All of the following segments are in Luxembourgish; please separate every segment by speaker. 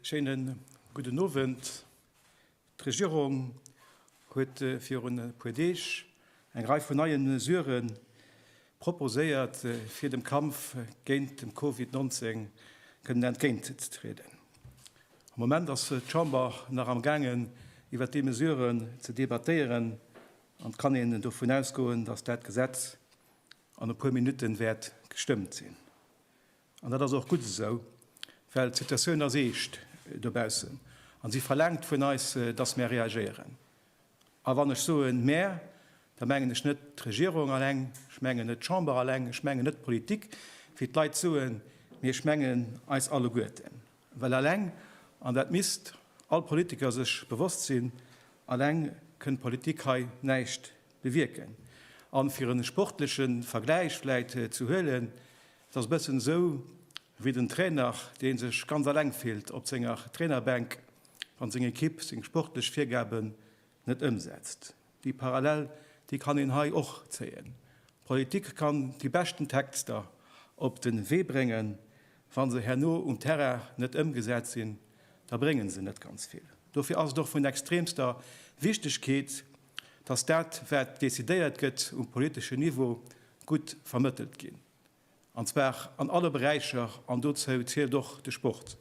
Speaker 1: Schéinen gudden Owend. D'Regierung huet virun e puer Deeg eng Rei vun neie Mesurë proposéiert, fir dem Kampf géint de Covid 19 kënnen entgéintzetrieden. Am Moment ass d'Chamber nach am gaangen, iwwert déi Mesuren ze debattéieren, an et kann een dovun ausgoen, dass dat Gesetz an e puer Minutte wäert gestëmmt sinn. An dat ass och gutt esou, well d'Situatioun ass eescht dobaussen a si verlaangt vun eis, dass mär reagéieren. A wann ech soen mär, da mengen ech net d'Regierung alleng, ech mengen net d'Chamber alleng, ech mengen net d'Politik, wéi d'Leit soen, mee ech mengen eis alleguerten. Well alleng, an dat misst all Politiker sech bewosst sinn, alleng kënn d'Politik hei näischt bewierken. A fir e sportleche Vergläich vläit ze huelen, Et ass e bëssen esou wéi den Trainer, dee sech ganz eleng fillt op senger Trainerbänk, wann seng Ekipp seng sportlech Virgaben net ëmsetzt. Déi Parallel, déi kann een hei och zéien. D'Politik kann déi beschten Texter op de Wee bréngen, wa se herno um Terrain net ëmgesat sinn, da bréngen se net ganz vill. Dofir ass et och vun extremster Wichtegkeet, dass dat wat decidéiert gëtt um politeschen Niveau gutt vermëttelt ginn, an zwar an alle Beräicher, an dozou zielt och de Sport.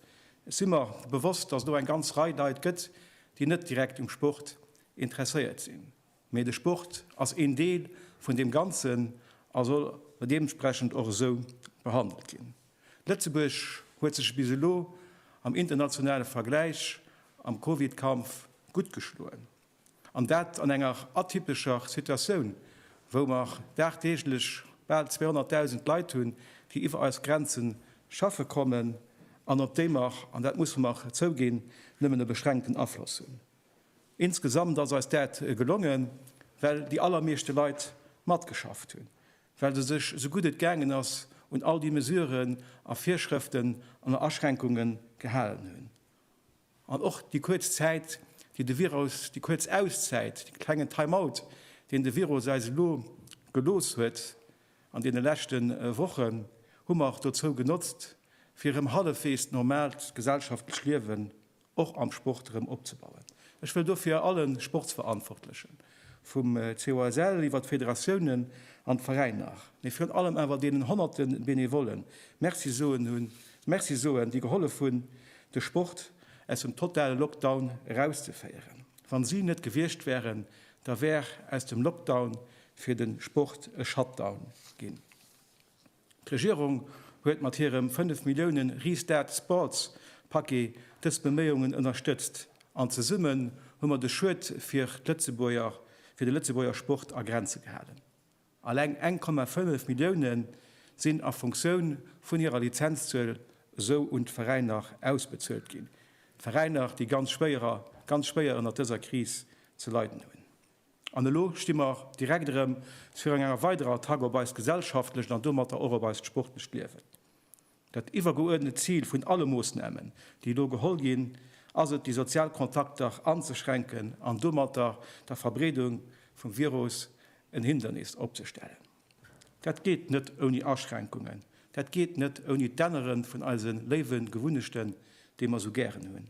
Speaker 1: Ech si mer bewosst, dass et och eng ganz Rei Leit gëtt, déi net direkt um Sport interesséiert sinn, mee de Sport ass een Deel vun deem Ganzen a soll deementsprechend och esou behandelt ginn. Lëtzebuerg huet sech bis elo am internationale Vergläich am Covid-Kampf gutt geschloen. An dat an enger atypescher Situatioun, wou mer dagdeeglech bal 200.000 Leit hunn, déi iwwer eis Grenze schaffe kommen an op déi mer, an dat musse mer zouginn, nëmmen e beschränkten Afloss hunn. Insgesamt ass eis dat gelongen, well déi allermeeschte Leit matgeschafft hunn, well se sech esou gutt et gaangen ass un all déi Mesuren a Virschrëften an Aschränkungen gehalen hunn. An och déi kuerz Zäit, déi de Virus, déi kuerz Auszäit, dee klengen Time-out, deen de Virus eis elo gelooss huet an deene leschte Wochen, hu mer dozou genotzt, fir erëm hallefweegs normaalt gesellschaftlech Liewen och am Sport erëm opzebauen. Ech wëll dofir alle Sportsverantwortlechen, vum COSL iwwer d'Federatiounen an d'Veräiner, mee virun allem awer deenen honnerte Benevollen Merci soen hunn, Merci soen, déi gehollef hunn, de Sport aus dem totale Lockdown erauszeféieren. Wa si net gewiescht wären, da wär aus dem Lockdown fir de Sport e Shutdown ginn. D'Regierung huet mat hirem 5 Milliounen Restart Sports Paquet dës Beméiungen ënnerstëtzt an zesummen hu mer de Schued fir d'Lëtzebuerger, fir de Lëtzebuerger Sport a Grenze gehalen. Alleng 1,5 Millioune sinn a Funktioun vun hirer Lizenzzuel esou un d'Veräiner ausbezuelt ginn, d'Veräiner, déi ganz schwéier, ganz schwéier ënnert dëser Kris ze leiden hunn. An elo sti mer direkt erëm virun enger weiderer Attack op eist gesellschaftlecht an domatter och op eist sportlecht Liewen. Dat iwwergeuerdnet Zil vun alle Moossnamen, déi elo geholl ginn, ass et, déi sozial Kontakter anzeschränken an domatter der Verbreedung vum Virus en Hindernis opzestellen. Dat geet net ouni Aschränkungen, dat geet net ouni d'Ännere vun eise léiwe Gewunnechten, déi mer esou gären hunn.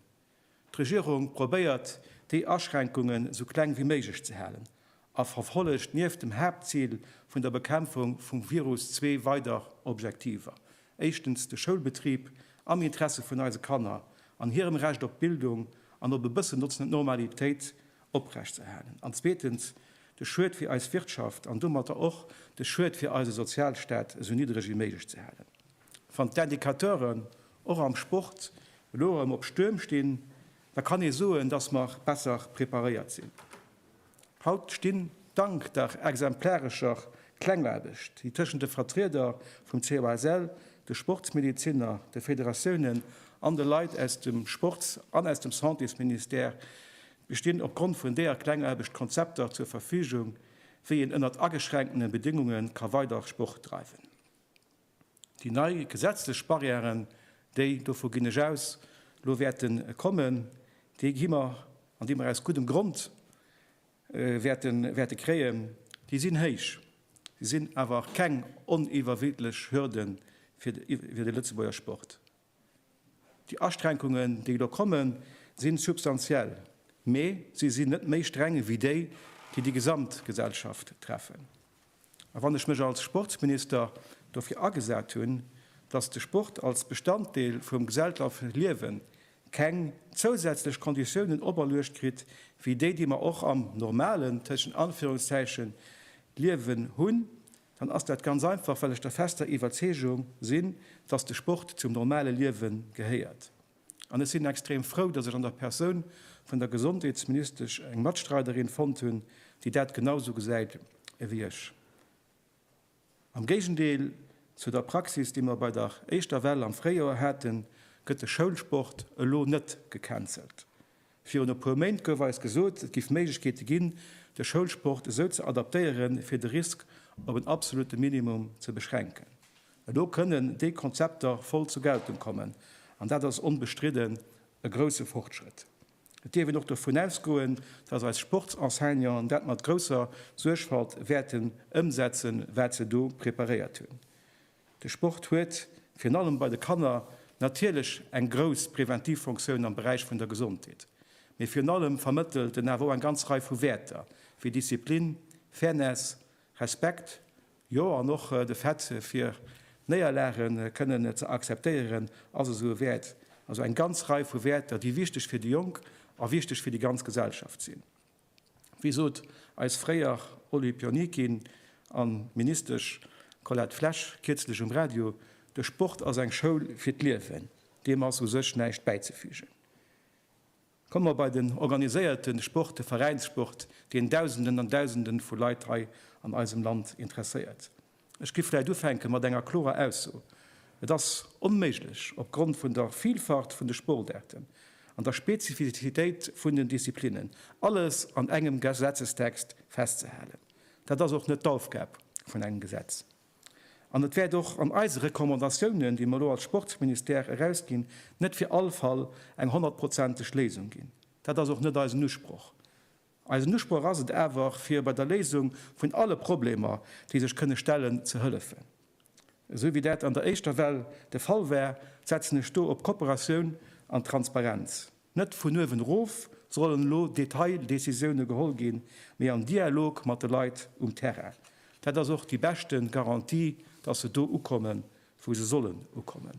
Speaker 1: D'Regierung probéiert, déi Aschränkungen esou kleng wéi méiglech ze halen a verfollegt nieft dem Haaptzil vun der Bekämpfung vum Virus zwee weider Objektiver, éischtens de Schoulbetrib am Interesse vun eise Kanner an hirem Recht op Bildung an op e bëssen notzend Normalitéit oprechtzeerhalen an zweetens de Schued fir eis Wirtschaft an domatter och de Schued fir eise Sozialstaat esou niddreg wéi méiglech ze halen. Wann d'Indicateuren och am Sport elo erëm op Stuerm stinn, da kann ee soen, dass mer besser preparéiert sinn. Haut stinn, dank der exemplarescher Klengaarbecht, déi tëschent de Vertrieder vum COSL, de Sportsmedeziner, de Federatiounen an de Leit aus dem Sports an aus dem Santésministère bestinn, opgrond vun deeër Klengaarbecht Konzepter zur Verfügung, wéi een ënnert ageschränkene Bedéngunge ka weider Sport dreiwen. Déi nei gesetzlech Barrièren, déi, dovu ginn ech aus, elo wäerte kommen, déi gi mer an déi mer aus guddem Grond wäerte kréien, déi sinn héich. Si sinn awer keng oniwwerwidlech Hürde fir de Lëtzebuerger Sport. Déi Aschränkungen, déi elo kommen, sinn substantiell, mee si sinn net méi streng wéi déi, déi déi gesamt Gesellschaft treffen. A wann ech mech als Sportsminister dofir agesat hunn, dass de Sport als Bestanddeel vum gesellschaftleche Liewen keng zousätzlech Konditiounen operluecht kritt wéi déi, déi mer och am normalen, tëschent Anführungszeichen, Liewen hunn, dann ass dat ganz einfach, well ech der fester Iwwerzeegung sinn, dass de Sport zum normale Liewe gehéiert. An ech sinn extrem frou, dass ech an der Persoun vun der Gesondheetsministesch eng Matstreiderin fonnt hunn, déi dat genau esou gesäit ewéi ech. Am Géigendeel zu der Praxis, déi mer bei der éischter Well am Fréijoer haten, gëtt de Schoulsport elo net gecancelt. Virun e puer Méint gouf eis gesot, et géif Méiglechkeete ginn, de Schoulsport esou ze adaptéieren, fir de Risk op en absolute Minimum ze beschränken. Elo kënnen déi Konzepter voll zur Geltung kommen, an dat ass onbestridden e grousse Fortschrëtt. Et dierf een och dovun ausgoen, dass eis Sportsenseignanten dat mat grousser Suergfalt wäerten ëmsetzen, wat se do preparéiert hunn. De Sport huet, virun allem bei de Kanner, natierlech eng grouss preventiv Fonctioun am Beräich vun der Gesondheet, mee virun allem vermëttelt en awer och eng ganz Rei vu Wäerter wéi Disziplin, Fairness, Respekt, jo an och de Fait fir Néierlage kënnen ze akzeptéieren ass esou e Wäert. Also eng ganz Rei vu Wäerter, déi wichteg fir déi Jonk a wichteg fir déi ganz Gesellschaft sinn. Wéi sot eis fréier Olympionikin an Ministesch Colette Flesch kierzlech um Radio, De Sport ass eng Schoul fir d'Liewen. Deem ass u sech näischt bäizefügen. Komme mer bei den organiséierten Sport, de Veräinssport, deen Dausenden an Dausenden vu Leit hei an eisem Land interesséiert. Ech giff vläit ufänke mat enger klorer Ausso, Et ass onméiglech, opgrond vun der Vielfalt vun de Sportaarten an der Spezifizitéit vun den Disziplinnen, alles an engem Gesetzestext festzehalen. Dat ass och net d'Aufgab vun engem Gesetz. An et wäert och an eise Recommandatiounen, déi mer elo als Sportsministère erausginn, net fir all Fall eng honnertprozenteg Léisung ginn. Dat ass och net eisen Usproch. Eisen Usproch ass et awer, fir bei der Léisung vun alle Problemer, déi sech kënne stellen, ze hëllefen. Esou wéi dat an der éischter Well de Fall war, setzen ech do op Kooperatioun an Transparenz. Net vun uewen erof sollen elo Detaildecisioune geholl ginn, mee am Dialog mat de Leit um Terrain. Dat ass och déi beschte Garantie, dass se do ukommen, wou se sollen ukommen.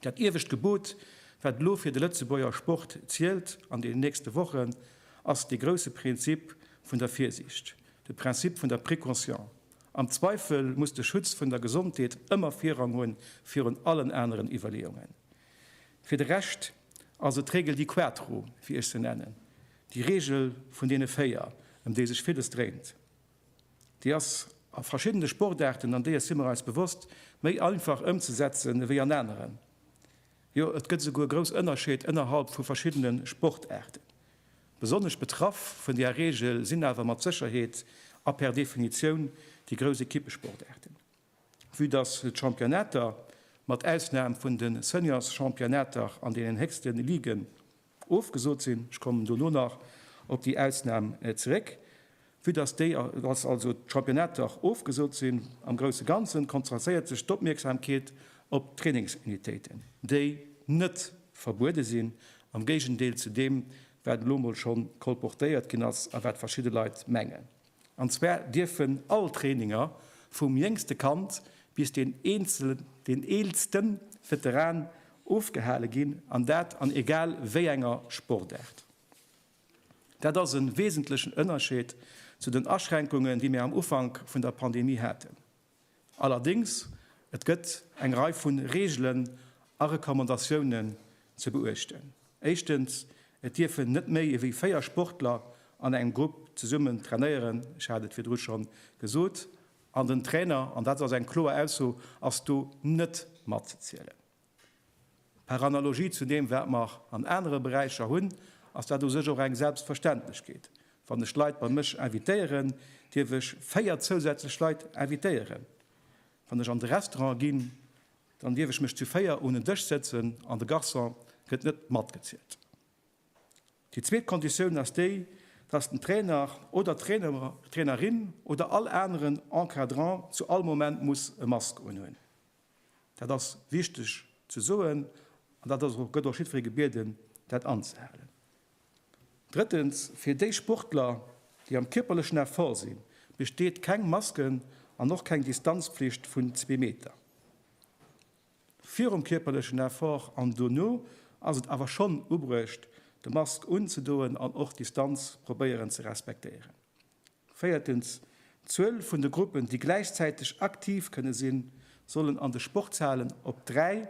Speaker 1: Dat iewescht Gebot, wat elo fir de Lëtzebuerger Sport zielt an deenen nächste Wochen, ass dee grousse Prinzip vun der Virsiicht, de Principe vun der Précaution. Am Zweifel muss de Schutz vun der Gesondheet ëmmer Virrang hunn virun allen aneren Iwwerleeungen. Fir de Rescht ass et d'Regel di quattro, wéi ech se nennen, déi Regel vun deene véier, ëm déi sech villes dréint. Déi ass a verschiddene Sportaarten, an deeër si mer eis bewosst, méi einfach ëmzesetzen ewéi an aneren. Jo, et gëtt esouguer grouss Ënnerscheed ënnerhalb vu verschiddene Sportaarten. Besonnesch betraff vun deeër Reegel sinn awer mat Sécherheet a per Definitioun déi grouss Equippesportaarten, vue dass d'Championnater, mat Ausnam vun de Seniors-Championnater an deenen héchste Liguen, Ofgesot sinn. Ech kommen dono nach op déi Ausnam zeréck. Vue dass déi, dass also d'Championnate dach ofgesot sinn, am grousse Ganzen konzentréiert sech d'Opmierksamkeet op d'Trainingsunitéiten, déi net verbuede sinn, am Géigendeel zu deem, wat elo mol scho kolportéiert ginn ass a wat verschidde Leit mengen. An zwar dierfen all Traininger, vum jéngste Kand bis deen eelste Veteran, ofgehale ginn, an dat an egal wéi enger Sportaart. Dat ass e wesentlechen Ënnerscheed zu den Aschränkungen, déi mir am Ufank vun der Pandemie haten. Allerdéngs, et gëtt eng Rei vu Reegelen a Recommandatiounen ze beuechten. Éischtens, et dierfen net méi ewéi véier Sportler an engem Grupp zesummen trainéieren, ech hat et virdru scho gesot, an den Trainer, an dat ass eng kloer Ausso, ass do net matzezielen. Par analogie zu deem, wat mer an anere Beräicher hunn, ass dat u sech och eng Selbstverständlechkeet. Wann ech Leit bei mech invitéieren, dierf ech véier zousätzlech Leit invitéieren. Wann ech an de Restaurant ginn, dann dierf ech mech zu véier un en Dësch sëtzen an de Garçon gëtt net matgezielt. Déi zweet Konditioun ass déi, dass den Trainer oder d'Trainerin oder all aneren Encadrant zu all Moment muss e Mask unhunn. Dat ass wichteg ze soen an dat ass och, gëtt och jiddweree gebieden, dat anzehalen. Drëttens, fir déi Sportler, déi am kierperlechen Effort sinn, besteet keng Masken an och keng Distanzpflicht vun zwee Meter. Virum kierperlechen Effort an dono ass et awer schonn ubruecht, de Mask unzedoen an och d'Distanz probéieren ze respektéieren. Véiertens, D'Zuel vun de Gruppen, déi gläichzäiteg aktiv kënne sinn, sollen an de Sportshalen op dräi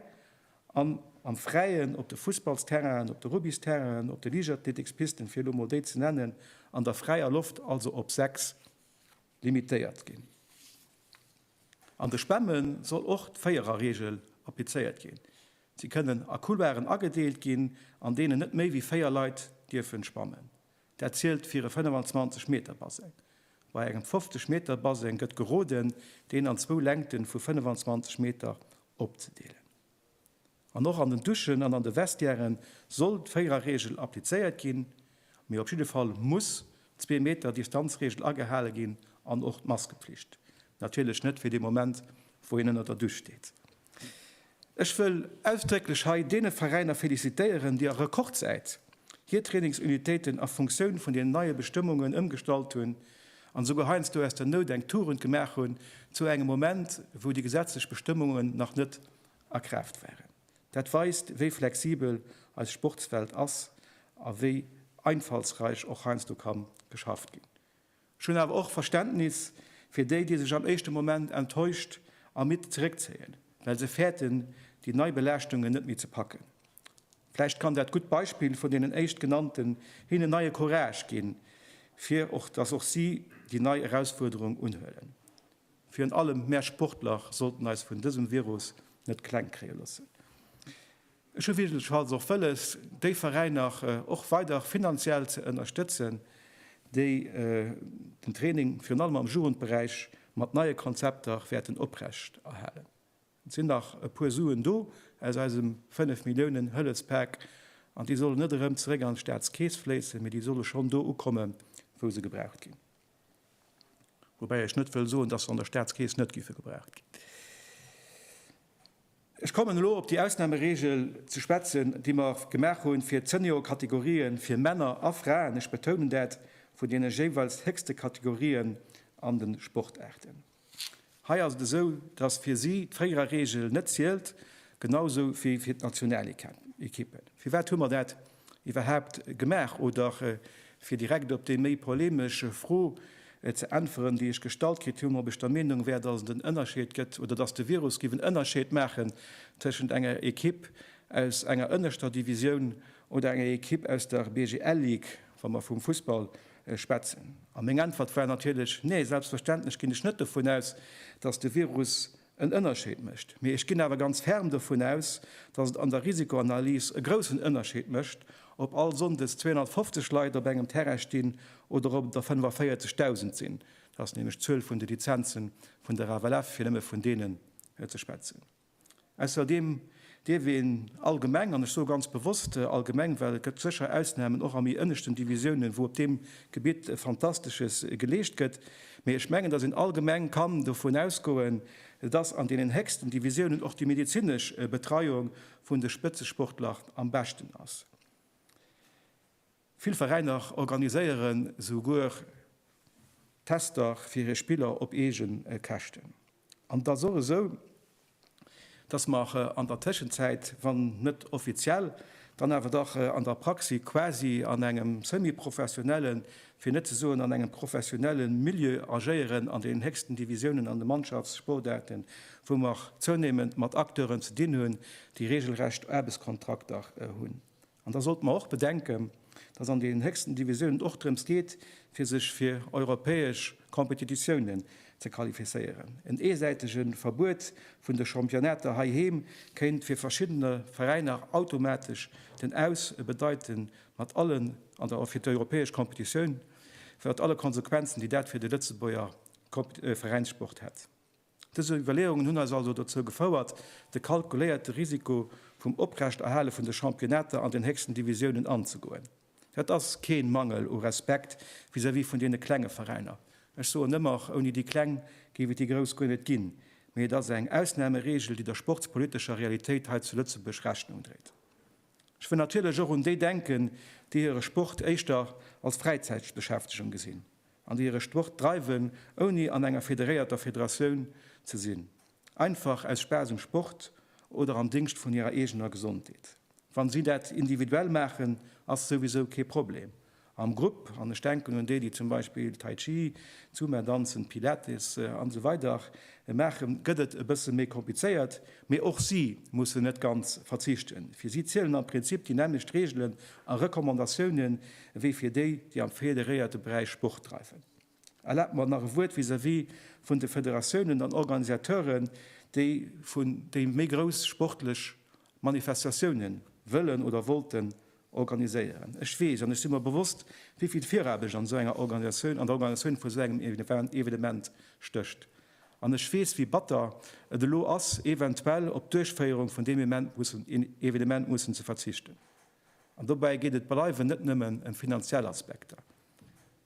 Speaker 1: an am Fräien, op de Fussballsterrainen, op de Rugbysterrainen, op de Liichtathletikspisten, fir elo mol déi ze nennen, an der fräier Loft, also op sechs limitéiert ginn. An de Spamme soll och d'Véiererregel applizéiert ginn. Si kënnen a Couloiren agedeelt ginn, an deenen net méi wéi véier Leit dierfe spammen. Dat zielt fir e 25 Meter Baseng. Bei engem 50 Meter Baseng gëtt geroden, deen an zwou Längte vu 25 Meter opzedeelen. An och an den Duschen an an de Vestiäre soll d'Véiererreegel applizéiert ginn, mee op jidde Fall muss d'Zwee Meter Distanzreegel agehale ginn an och d'Maskepflicht. Natierlech net fir dee Moment, wou een ënner der Dusch steet. Ech wëll ausdrécklech hei deene Veräiner felicitéieren, déi a Rekordzäit hir Trainingsunitéiten a Funktioun vun den neie Bestëmmungen ëmgestallt hunn an esouguer heiansdo aus der Nout eng Tugend gemaach hunn, zu engem Moment, wou déi gesetzlech Bestëmmungen nach net a Kraaft waren. Dat weist, wéi flexibel eis Sportswelt ass a wéi einfallsräich och heiansdo ka geschafft ginn. Ech hunn awer och Verständnis fir déi, déi sech am éischte Moment enttäuscht a midd zeréckzéien, well se fäerten, déi nei Belaaschtungen net méi ze packen. Vläicht kann dat gutt Beispill vun deenen éischt Genannten hinnen neie Courage ginn, fir och dass och si déi nei Erausfuerderung unhuelen. Virun allem mär Sportler sollten eis vun dësem Virus net kleng kréie loossen. Ech hu jedenfalls och wëlles, déi Veräiner och weider finanziell ze ënnerstëtzen, déi den Training virun allem am Jugendberäich mat neie Konzepter wäerten oprechterhalen. Et sinn nach e puer Suen do aus eisem fënnef Milliounen Hëllefspak an déi solle net erëm zeréck an d'Staatskeess fléissen, mee déi solle schonn do ukomme wou se gebraucht ginn. Woubäi ech net wëll soen, datt se an der Staatskeess net géife gebraucht ginn. Ech kommen elo op déi Ausnahmeregel ze schwätzen, déi mer gemaach hunn fir d'Seniorkategorien, fir Männer a Fraen, ech betounen dat, vun deene jeeweils héchste Kategorien an de Sportaarten. Hei ass et esou, dass fir si d'Fréierer-Regel net zielt, genausou wéi fir d'Nationalekippen. Firwat hu mer dat iwwerhaapt gemaach? Oder fir direkt op déi méi polemesch Fro ze äntweren, déi ech gestallt kritt hunn, ob ech der Meenung wär, dass et en Ënnerscheed gëtt oder dass de Virus géif en Ënnerscheed maachen tëschent enger Ekipp aus enger ënneschter Divisioun oder enger Ekipp aus der BGL Ligue, wa mer vum Fussball schwätzen. A meng Äntwert war natierlech, Nee, selbstverständlech ginn ech net dovun aus, dass de Virus en Ënnerscheed mécht. Mee ech ginn awer ganz ferm dovun aus, datt et an der Risikoanalys e groussen Ënnerscheed mécht, ob all Sonndes 250 Leit op engem Terrain stinn oder ob et der 45.000 sinn. Dat ass nämlech d'Zuel vun de Lizenze vun der FLF, fir nëmme vun deene ze schwätzen. Ausserdeem dierf een allgemeng, an ech soe ganz bewosst allgemeng, well et gëtt sécher Ausnahmen, och a méi ënneschten Divisiounen, wou op deem Gebitt Fantastesches geleescht gëtt, mee ech mengen, dass een allgemeng kann dovun ausgoen, dass an deenen héchsten Divisiounen och déi medezinesch Betreiung vun de Spëtzesportler am beschten ass. Vill Veräiner organiséieren souguer Tester fir hir Spiller op eege Käschten. An et ass och esou, dass mer an der Tëschenzäit, wann net offiziell, dann awer dach an der Praxi quasi an engem semi-professionelle, fir net ze soen an engem professionelle Milieu agéieren an den héchsten Divisiounen an de Mannschaftssportaarten, wou mer zounéimend mat Acteuren ze dinn hunn, déi reegelrecht Aarbechtskontrakter hunn. An da sollte mer och bedenken, dass an den héchsten Divisiounen och drëms geet, fir sech fir europäesch Competititiounen ze qualifizéieren. En eesäitege Verbuet vun de Championnater heiheem kéint fir verschiddene Veräiner automatesch den Aus bedeiten, mat allen, an da och fir d'europäesch Competitioun, mat alle Konsequenzen, déi dat fir de Lëtzebuerger Veräinssport hätt. Dës Iwwerleeungen hunn eis also dozou gefouert, de kalkuléierte Risiko vum Oprechterhale vun de Championnetter an den héchsten Divisiounen anzegoen. Dat ass kee Mangel u Respekt vis-à-vis vun deene klenge Veräiner. Ech soen ëmmer, och ouni déi Kleng géif et déi Grouss guer net ginn. Mee et ass eng Ausnameregel, déi der sportspolitescher Realitéit hei zu Lëtzebuerg Rechnung dréit. Ech wëll natierlech och un déi denken, déi hire Sport éischter als Fräizäitbeschäftegung gesinn. an déi hire Sport dreiwen, ouni an enger federéierter Federatioun ze sinn, einfach aus Spaass um Sport oder am Dingscht vun hirer eegener Gesondheet. Wann si dat individuell maachen, ass souwisou kee Problem. Am Grupp, an ech denken un déi, déi zum Beispill Tai Chi, Zumba danzen, Pilates an esou weider maachen, gëtt et e bësse méi komplizéiert. Mee och si mussen net ganz verzichten. Fir si zielen am Prinzip déi nämmlecht Reegelen a Recommandatiounen, ewéi fir déi, déi am federéierte Beräich Sport dreiwen. Erlaabt mer nach e Wuert vis-à-vis vun de Federatiounen an Organisateuren, déi vun déi méi grouss sportlech Manifestatioune wëllen oder wollten organiséieren. Ech weess an ech si mer bewosst, wéi vill Viraarbecht an esou enger Organisatioun, an der Organisatioun vu esou engem Evenement stécht. An ech weess, wéi batter et elo ass, eventuell op d'Duerchféierung vun deem Evenement mussen ze verzichten. An dobäi geet et bleiwen net nëmmen ëm finanziell Aspekter.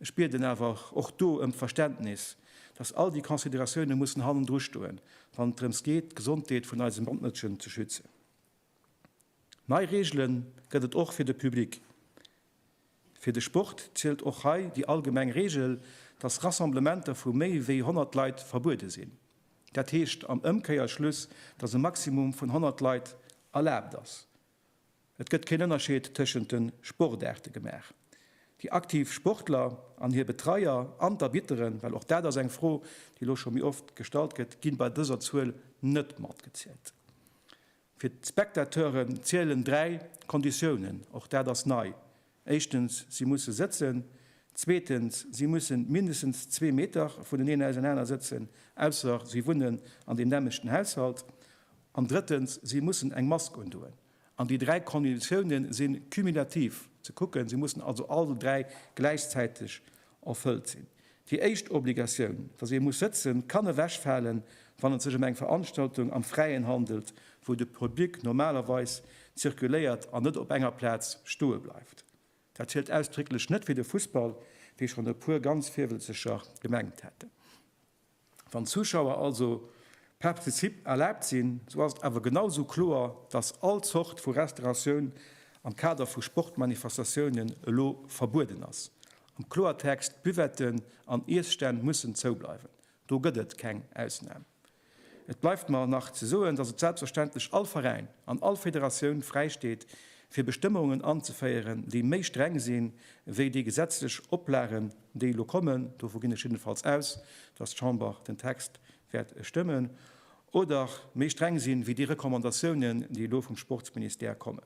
Speaker 1: Ech bieden awer och do ëm d'Verständnis, dass all déi Consideratioune mussen hannendru stoen, wann et drëms geet, d'Gesondheet vun eise Matmëtschen ze schützen. Nei Reegele gëtt et och fir de Public. Fir de Sport zielt och hei déi allgemeng Reegel, dass Rassemblementer vu méi wéi 100 Leit verbuede sinn. Dat heescht am Ëmkeierschluss, dass e Maximum vun 100 Leit erlaabt ass. Et gëtt keen Ënnerscheed tëschent de Sportaarte gemaach. Déi aktiv Sportler an hir Betreier an d'Arbitteren, well och dat ass eng Fro, déi elo scho méi oft gestallt gëtt, gi bei dëser Zuel net matgezielt. Fir d'Spectateuren zielen dräi Konditiounen, och dat ass nei, Éischtens, si musse sëtzen. Zweetens, si mussen mindestens zwee Meter vuneneen ausenaner sëtzen, ausser si wunnen an deem nämmlechten Haushalt. An drëttens, si mussen eng Mask undoen. An déi dräi Konditiounen si cumulativ ze kucken, si mussen also all dräi gläichzäiteg erfëllt sinn. Déi éischt Obligatioun, dass ee muss sëtzen, kann ewechfalen, wann et sech ëm eng Veranstaltung am Fräien handelt, wou de Public normalerweis zirkuléiert an net op enger Plaz stoe bleift. Dat zielt ausdrécklech net fir de Fussball, wéi schonn e puer ganz virwëlzeger gemengt hätten. Wann d'Zuschauer also Partizip erlaabt sinn, sou ass et awer genau sou kloer, dass all Zort vu Restauratioun am Kader vu Sportmanifestatiounen elo verbueden ass. Am Kloertext, Buvetten an Iesstänn mussen zou bleiwen. Do gëtt et keng Ausnam. Et bleift mer nach ze soen, dass et selbstverständlech all Veräin an all Federatioun fräisteet, fir Bestëmmungen anzeféieren, déi méi streng sinn, wéi déi gesetzlech Oplagen, déi elo kommen, dovu ginn ech jiddenfalls aus, dass d'Chamber den Text wäert stëmmen, oder méi streng sinn, wéi déi Recommandatiounen, déi elo vum Sportsministère kommen.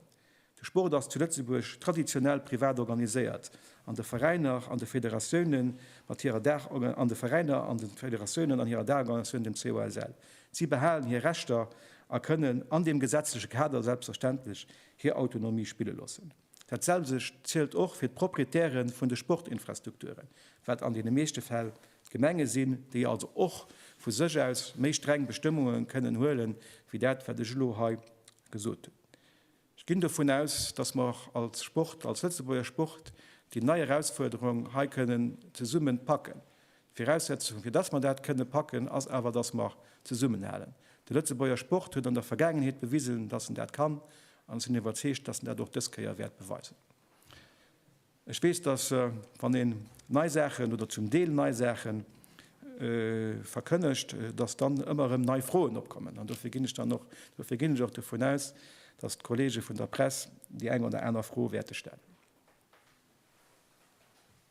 Speaker 1: De Sport ass zu Lëtzebuerg traditionell privat organiséiert, an de Veräiner an de Federatiounen mat hirer Daach, an de Veräiner an de Federatiounen an hirer Daachorganisatioun, dem COSL. Si behalen hir Rechter a kënnen an deem gesetzleche Kader selbstverständlech hir Autonomie spille loossen. Dat selwecht zielt och fir d'Proprietäre vun de Sportinfrastrukturen, wat an deene meeschte Fäll d'Gemenge sinn, déi also och vu sech aus méi streng Bestëmmunge kënnen huele wéi dat, wat ech elo hei gesot hunn. Ech ginn dovun aus, dass mer och als Sport, als Lëtzebuerger Sport, déi nei Erausfuerderung hei kënnen zesummen packen. D'Viraussetzung, fir dass mer dat kënne packen, ass awer, dass mer zesummenhalen. De Lëtzebuerger Sport huet an der Vergaangenheet bewisen, dass en dat kann, an ech sinn iwwerzeegt, dass en dat och dës Kéier wäert beweisen. Ech weess, dass, wann een nei Saachen oder zum Deel nei Saache verkënnegt, dass dann ëmmer erëm nei Froen opkommen. An dofir ginn ech dann och, dofir ginn ech och dovun aus, dass d'Kollege vun der Press déi eng oder aner Fro wäerte stellen.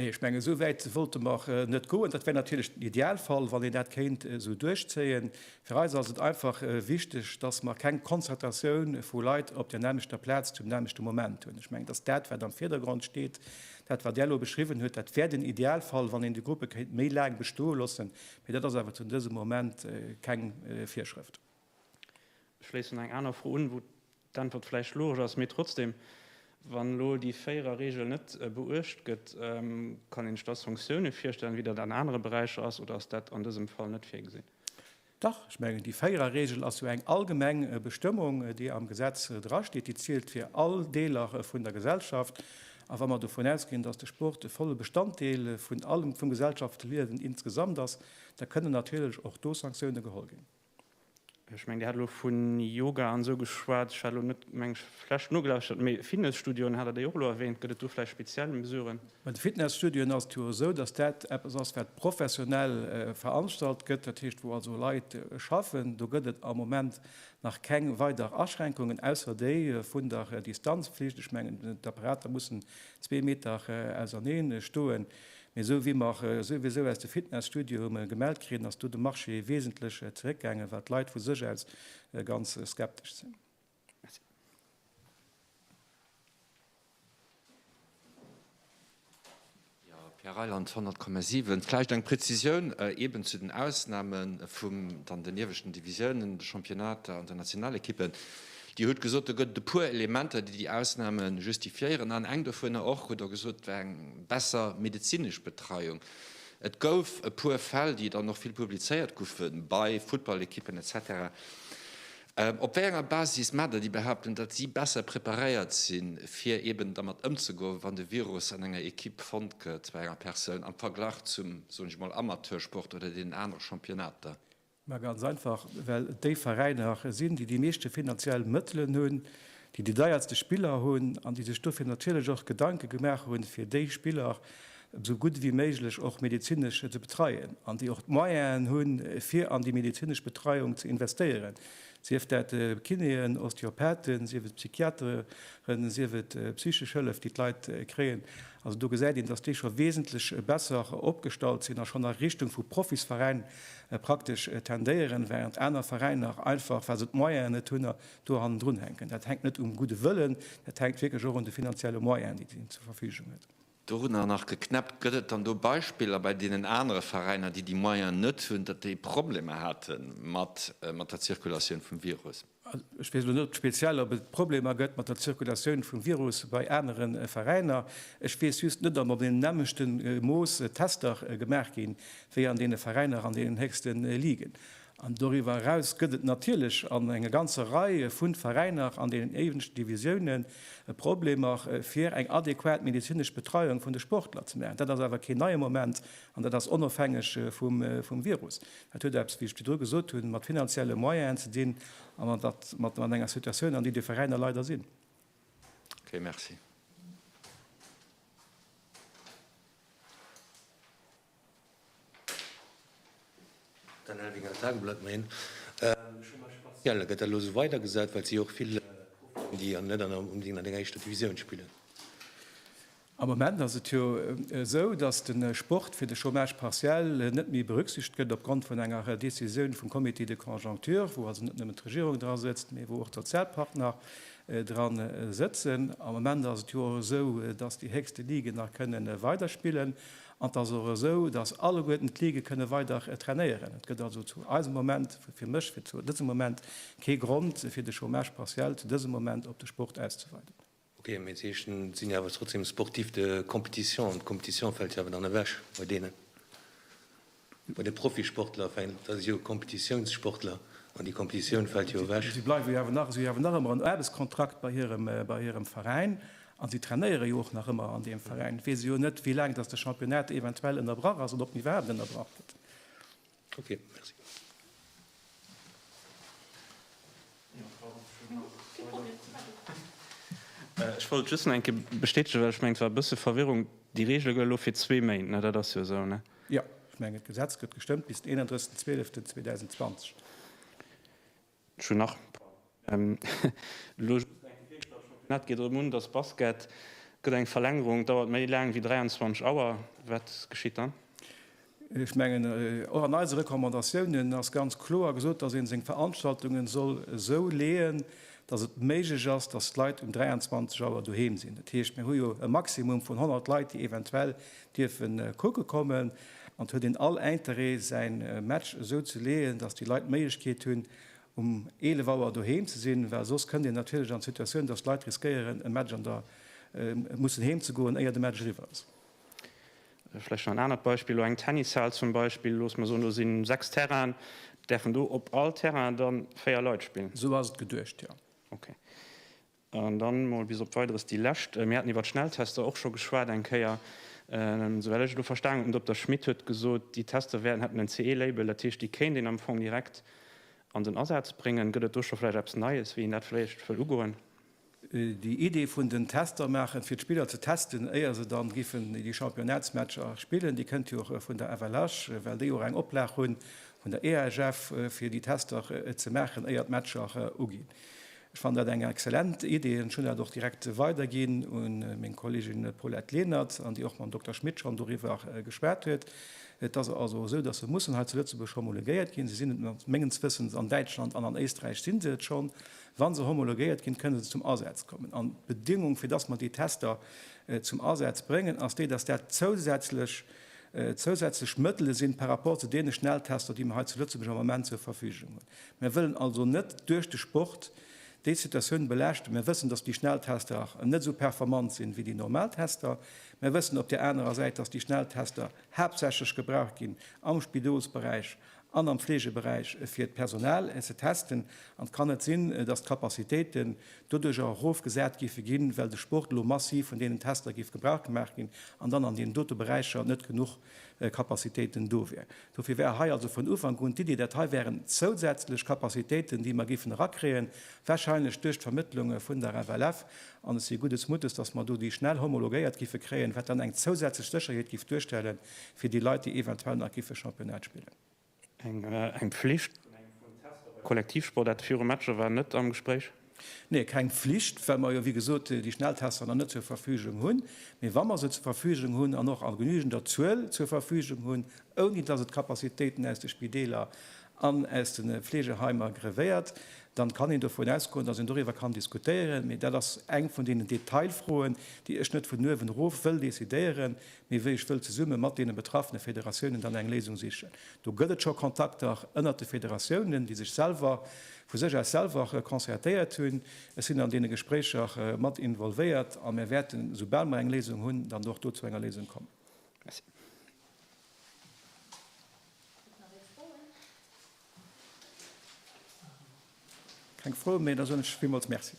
Speaker 2: Nee, ech
Speaker 1: mengen, esou wäit wollte mer net goen. Dat wär natierlech den Idealfall, wann een dat kéint esou duerchzéien. Fir eis ass et einfach wichteg, dass mer keng Konzertatioun vu Leit op där nämmlechter Plaz zum nämmlechte Moment hunn. Ech mengen, dass dat, wat am Virdergrond steet, dat, wat Der elo beschriwwen hutt, dat wär den Idealfall, wann een déi Gruppe kéint méi laang bestoe loossen. Mee dat ass awer zu dësem Moment keng Virschrëft.
Speaker 2: Ech schléissen eng aner Fro un, wou d'Äntwert vläicht logesch ass, mee trotzdem, Wann elo déi Véierer-Regel net beuecht gëtt, kann een sech da Sanktioune virstellen, wéi dat an anere Beräicher ass, oder ass dat an dësem Fall net virgesinn? Dach,
Speaker 1: ech mengen, déi Véierer-Regel ass jo eng allgemeng Bestëmmung, déi am Gesetz drasteet. Déi zielt fir all Deeler vun der Gesellschaft. A wa mer dovun ausginn, dass de Sport e volle Bestanddeel vun allem vum Gesellschaftsliewen insgesamt ass, da kënnen natierlech och do Sanktioune geholl ginn. Ech mengen
Speaker 2: Dir hat elo vu Yoga an esou geschwat. Ech hat elo net meng Fläsch nogelauschert, mee Fitnesstudioen hat Der déi och elo erwähnt. Gëtt et do vläicht speziell Mesuren? Bei de Fitnesstudioen
Speaker 1: ass et jo esou, datt dat eppes ass wat professionell veranstalt gëtt, dat heescht wou also Leit schaffen. Do gëtt et am Moment nach keng weider Aschränkungen, ausser déi vun der Distanzflicht. Ech mengen d'Apparater mussen zwee Meter ausernee stoen. Mee esou wéi mer souwisou aus de Fitnesstudio hu mellen gemellt kritt, ass do de Marché wesentlech zeréckgaangen, wat d'Leit vu sech aus ganz skeptesch sinn. Merci.
Speaker 3: Jo, Pierre Reyland, 100,7. Vläicht eng Prezisioun eeben zu den Ausname vum dann den ieweschten Divisiounen, de Championnater an den Nationalekippen. Dir hutt gesot, do gëtt et e puer Elementer, déi déi Ausname justifiéieren, an eng dovunner och, hutt Der gesot, war eng besser medezinesch Betreiung. Et gouf e puer Fäll, déi dann och vill publizéiert goufe bei Futtballekippen etc. Op wéi enger Basis maacht Der déi Behauptung, datt si besser preparéiert sinn, fir eeben dermat ëmzegoen, wann de Virus an enger Ekipp fonnt gëtt, bei enger Persoun, am Verglach zum, soen ech emol, Amateursport oder deenen anere Championnater? Ma ganz einfach,
Speaker 1: well et déi Veräiner sinn, déi déi meeschte finanziell Mëttelen hunn, déi déi deierste Spiller hunn an déi sech dofir natierlech och Gedanke gemaach hunn, fir déi Spiller esou gutt wéi méiglech och medezinesch ze betreien an déi och d'Moyenen hunn, fir an déi medezinesch Betreiung ze investéieren. Sief dat Kinéen, Osteopathen, sief et Psychiateren, sief et psychesch Hëllef, déi d'Leit kréien. Also do gesäit een, dass déi scho wesentlech besser opgestallt sinn a schonn a Richtung vu Profisveräin praktesch tendéieren, während aner Veräiner einfach, well se d'Moyene net hunn, do hannendrun hänken. Dat hänkt net um gudde Wëllen, dat hänkt wierklech och un de finanzielle Moyenen, déi d'EDIN zur Verfügung huet. Dorunner nach
Speaker 3: geknäppt. Gëtt et dann do Beispiller bei deenen anere Veräiner, déi déi Moyen net hunn, datt déi Problemer hate mat der Zirkulatioun vum Virus? Ech weess elo net
Speaker 1: speziell, ob et Problemer gëtt mat der Zirkulatioun vum Virus bei anere Veräiner. Ech weess just net, ob an deem nämmlechte Mooss Tester gemaach gi wéi an deene Veräiner an deenen héchste Ligen. An doriwwer eraus gëtt et natierlech an enger ganzer Rei vu Veräiner an deenen éiwendsten Divisiounen e Problemer, fir eng adequat medezinesch Betreiung vun de Sportler ze maachen. Dat ass awer keen neie Moment an dat ass onofhängeg vum Virus. Dat huet eppes, wéi ech virdru gesot hunn, mat finanzielle Moyenen ze dinn a mat enger Situatioun, an déi déi Veräiner leider sinn. Okay,
Speaker 3: merci.
Speaker 4: Am Moment ass et
Speaker 1: jo esou, datt de Sport fir de Chômage partiel net méi berücksichtegt gëtt, opgrond vun enger Décisioun vum Comité de conjoncture, wou also net nëmmen d'Regierung dra sëtzt, mee wou och d'Sozialpartner dra sëtzen. Am Moment ass et jo och esou, datt déi héchste Liguen nach kënne weiderspillen. An et ass och esou, dass alleguerten d'Ligue kënne weider trainéieren. Et gëtt also zu eisem Moment, fir mech, fir zu dësem Moment kee Grond, fir de Chômage partiel zu dësem Moment op de Sport auszeweiden. Ok, mee d'Heeschen
Speaker 4: sinn jo awer trotzdem sportifs de compétition an d'Compétition fält jo awer dann ewech bei deenen. Bei de Profisportler fänkt, dat ass jo e Kompetitiounssportler, an déi Kompetitioun fält jo ewech. Si bleiwe jo awer nach, si hawen
Speaker 1: nach ëmmer en Aarbechtskontrakt bei hirem, bei hirem Veräin, a si trainéiere jo och nach ëmmer an deem Veräin. Et weess e jo net, wéi laang datt de Championnat eventuell ënnerbrach ass, oder ob en iwwerhaapt ënnerbrach gëtt. Ok,
Speaker 4: merci.
Speaker 2: Ech wollt just nach eng Kéier bestätegen, well ech mengen, et war e bësse Verwirrung, Déi Reegele gëlle elo fir zwee Méint, dat ass jo esou, ne? Jo, ech mengen, d'Gesetz
Speaker 1: gëtt gestëmmt bis den 31. 12. 2020. Ech
Speaker 2: hunn nach elo just eng Fro, well de Championnat geet erëm un, dass Basket gëtt eng Verlängerung, dauert méi laang wéi 23 Auer. Wat geschitt dann? Ech
Speaker 1: mengen, och an eise Recommandatiounen ass ganz kloer gesot, dass ee seng Veranstaltungen soll esou leeën, dass et méiglech ass, dass d'Leit um 23 Auer doheem sinn. Dat heescht, mir hu jo e Maximum vun 100 Leit, déi eventuell dierfe kucke kommen an et huet een all Interêt säi Match esou ze leeën, datt déi Leit d'Méiglechkeet hunn um 11 Auer doheem ze sinn, well soss kënnt een natierlech an d'Situatioun, datt Leit riskéieren e Match an der mussen heem ze goen éier de Match eriwwer ass.
Speaker 2: Vläicht nach en anert Beispill, elo eng Tennishal zum Beispill, looss mer soen do si 6 Terrainen, däerfen do op all Terrain da 4 Leit spillen? Esou ass et geduecht, jo.
Speaker 1: Okay.
Speaker 2: An dann mol bis op Weideres déi lescht. Mir haten iwwert Schnelltester och scho geschwat eng Kéier. Souwäll ech et elo verstanen hunn, den Dokter Schmit huet gesot, déi Tester wäerten, hätten en CE-Label, dat heescht, déi kéint een am Fong direkt an den Asaz bréngen. Gëtt et do scho vläicht eppes Neies, wéi een dat vläicht wëll ugoen? Déi
Speaker 1: Idee vun den Tester maachen, fir d'Spiller ze testen, éier se dann giffen déi Championnats-Matcher spillen, déi kënnt jo och vun der FLH, well déi jo och eng Oplag hunn vun der EHF, fir déi Tester ze maachen, éier d'Matcher uginn. Ech fannen dat eng exzellent Idee an ech hunn dat och direkt weiderginn u meng Kollegin Paulette Lenert an déi och mam Dokter Schmit schonn doriwwer geschwat huet. Et ass also esou, dass se mussen hei zu Lëtzebuerg homologéiert ginn. Se sinn et mat, mengens Wëssens, an Däitschland an an Éisträich si se et schonn. Wa se homologéiert ginn, kënne se zum Asaz kommen. An d'Bedingung, fir dass mer déi Tester zum Asaz bréngen, ass déi, dass dat zousätzlech, zousätzlech Mëttele sinn par rapport zu deene Schnelltester, déi mer hei zu Lëtzebuerg am Moment zur Verfügung hunn. Mir wëllen also net duerch de Sport déi Situatioun belaaschten. Mir wëssen, dass déi Schnelltester net esou performant sinn, wéi déi normal Tester. Mir wëssen op där anerer Säit, dass déi Schnelltester haaptsächlech gebraucht ginn am Spidolsberäich an am Fleegeberäich, fir d'Personal ze testen. An et kann net sinn, dass d'Capacitéiten doduerch erofgesat géife ginn, well de Sport elo massiv vun deenen Tester géif gebrauch gemaach ginn an dann an deenen dote Beräicher net genuch Kapazitéiten do wier. Dofir war hei also vun Ufank un d'Iddi, dat hei wären zousätzlech Kapazitéiten, déi mer géifen erakréien, wahrscheinlech duerch d'Vermëttlunge vun der FLF. An ech si guddes Muttes, dass mer do déi schnell homologéiert gife kréien, wat dann eng zousätzlech Sécherheet géif duerstellen fir déi Leit, déi eventuell nach gife Championnat spillen.
Speaker 2: Eng Pflicht vun engem vun Tester bei Kollektivsportaarte viru Matcher war net am Gespréich. Nee, keng
Speaker 1: Pflicht, well mer jo, wéi gesot, déi Schnelltester nach net zur Verfügung hunn. Mee wa mer se zur Verfügung hunn an och a genügender Zuel zur Verfügung hunn, ouni dass et d'Capacitéiten aus de Spideeler an aus de Fleegeheimer grevéiert, dann kann een dovun ausgoen, dass een doriwwer kann diskutéieren. Mee dat ass eng vun deenen Detailfroen, déi ech net vun uewen erof wëll decidéieren, Mee wéi ech wëll zesumme mat deene betraffene Federatiounen dann eng Léisung sichen. Do gëtt et scho Kontakter ënnert de Federatiounen, déi sech selwer vu sech aus selwer concertéiert hunn. Ech sinn an deene Gespréicher mat involvéiert a mir wäerten, esoubal mer eng Léisung hunn, dann och do zu enger Léisung kommen. Merci. Gëtt et nach Leit Froen? Keng Froen méi, da soen ech villmools Merci.